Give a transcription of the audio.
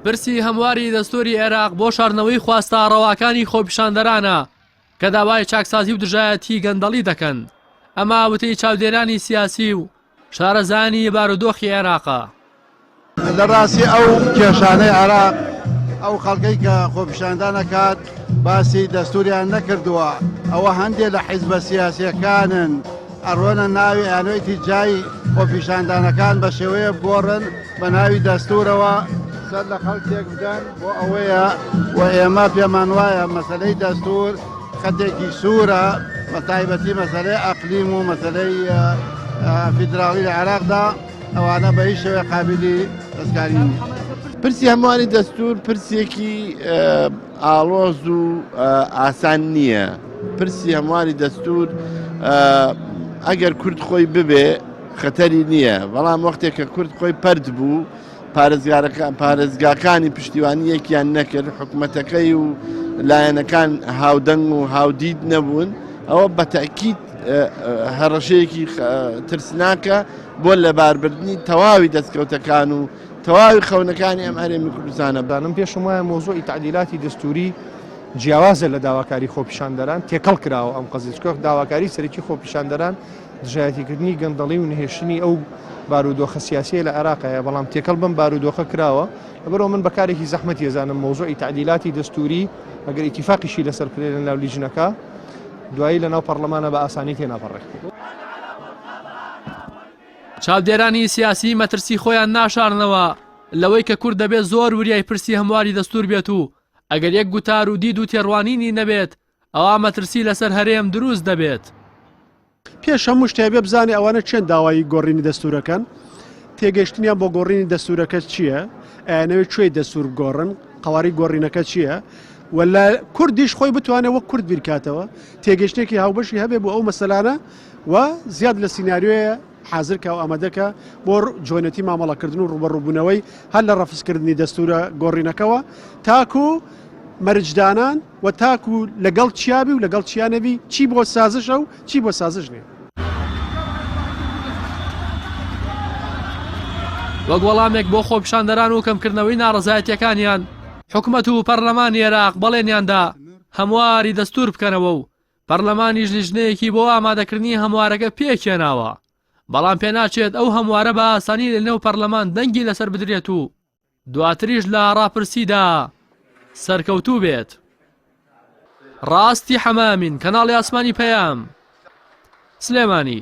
پرسی هەمواری دەستوری عێراق بۆ شارنەوەی خواستە ڕەواکانی خۆپیشاندەرانە کە داوای چاکسازی و دژایەتی گەندەڵی دەکەن ئەما وتەی چاودێرانی سیاسی و شارەزانی بارودۆخی عێراقە لە ڕاستی ئەو کێشانەی عراق ئەو خەڵکەی کە خۆپیشاندان نەکات باسی دەستوریان نەکردووە ئەوە هەندێک لە حیزبە سیاسەکانن ئەڕۆنە ناوی ئانۆیتی جای خۆپیشاندانەکان بە شێوەیە بگۆڕن بە ناوی دەستورەوە سەر لە خەڵکێک بدەن بۆ ئەوەیە و ئێمە پێمان وایە مەسلەی دەستور خەتێکی سوورە بە تایبەتی مەسلەی ئەقلیم و مەسلەی فیدراڵی لە عێراقدا ئەوانە بە هیچ شێوەیە قابیلی دەستکاری نییە. پرسی هەمووانی دەستور پرسێکی ئاڵۆز و ئاسان نییە پرسی هەمواری دەستور ئەگەر کورد خۆی ببێ خەتەری نییە بەڵام وەختێک کە کورد خۆی پرد بوو پارێزگارەکان پارێزگاکانی پشتیوانی یەکیان نەکرد حکومەتەکەی و لایەنەکان هاودەنگ و هاودید نەبوون ئەوە بەتەکیت هەڕەشەیەکی ترسناکە بۆ لەباربردننی تەواوی دەستکەوتەکان و تەواوی خەونەکانی ئەم هەرێمی کوردستانە. دانم پێشم وایە مەوزوعی تەعدیلاتی دەستووری جیاوازە لە داواکاری خۆپیشاندەران، تێکەڵ کراوە ئەم قەزیە، چونکە داواکاری سەرەکی خۆپیشاندەران دژایەتیکردنی گەندەڵی و نەهێشتنی ئەو بارودۆخە سیاسییە لە عێراق هەیە، بەڵام تێکەڵ بەم بارودۆخە کراوە، لەبەرئەوە من بە کارێکی زەحمەتی ئەزانم مەوزوعی تەعدیلاتی دەستووری، ئەگەر ئیتیفاقیشی لەسەر بکرێت لەناو لیجنەکە، دوایی لەناو پەڕڵەمانە بە ئاسانی تێناپەڕێت. چاودێرانی سیاسی مەترسی خۆیان ناشارنەوە لەوەی کە کورد دەبێت زۆر وریای پرسی هەمواری دەستور بێت و ئەگەر یەک گوتار و دید و تێڕوانینی نەبێت ئەوا مەترسی لەسەر هەرێم دروست دەبێت. پێش هەموو شتێ ئەبێ بزانێ ئەوانە کێن داوای گۆڕینی دەستورەکەن؟ تێگەشتنیان بۆ گۆڕینی دەستورەکە چییە؟ ئەیانەوێ کوێی دەستور بگۆڕن؟ قەواری گۆڕینەکە چییە؟ و لە کوردیش خۆی بتوانێ وەک کورد بیرکاتەوە، تێگەشتنێکی هاوبەشی هەبێ بۆ ئەو مەسەلانە، و زیاد لە سیناریۆیە حازر کە و ئامادە کە بۆ جۆنێتی مامەڵە کردن و ڕوبەڕوو بوونەوەی هەر لە ڕەفز کردنی دەستورە گۆڕینەکەوە تاکو مەرج دانان و تاکو لەگەڵ چیابی و لەگەڵ چیا نەبی چی بۆ سازشە و چی بۆ سازش نیە. وەک وەڵامێک بۆ خۆپیشاندەران و کەم کردنەوەی ناڕەزایەتیەکانیان حکومەت و پەرلەمانی عێراق بەڵێنیان دا هەمواری دەستور بکەنەوە و پەرلەمانیش لیژنەیەکی بۆ ئامادەکردنی هەموارەکە پێکهێناوە، بەڵام پێناچێت ئەو هەموارە بە ئاسانی لە نێو پەرلەمان دەنگی لەسەر بدرێت و دواتریش لە ڕاپرسیدا سەرکەوتوو بێت. ڕاستی حەمە ئەمین، کەناڵی ئاسمانی پەیام، سلێمانی.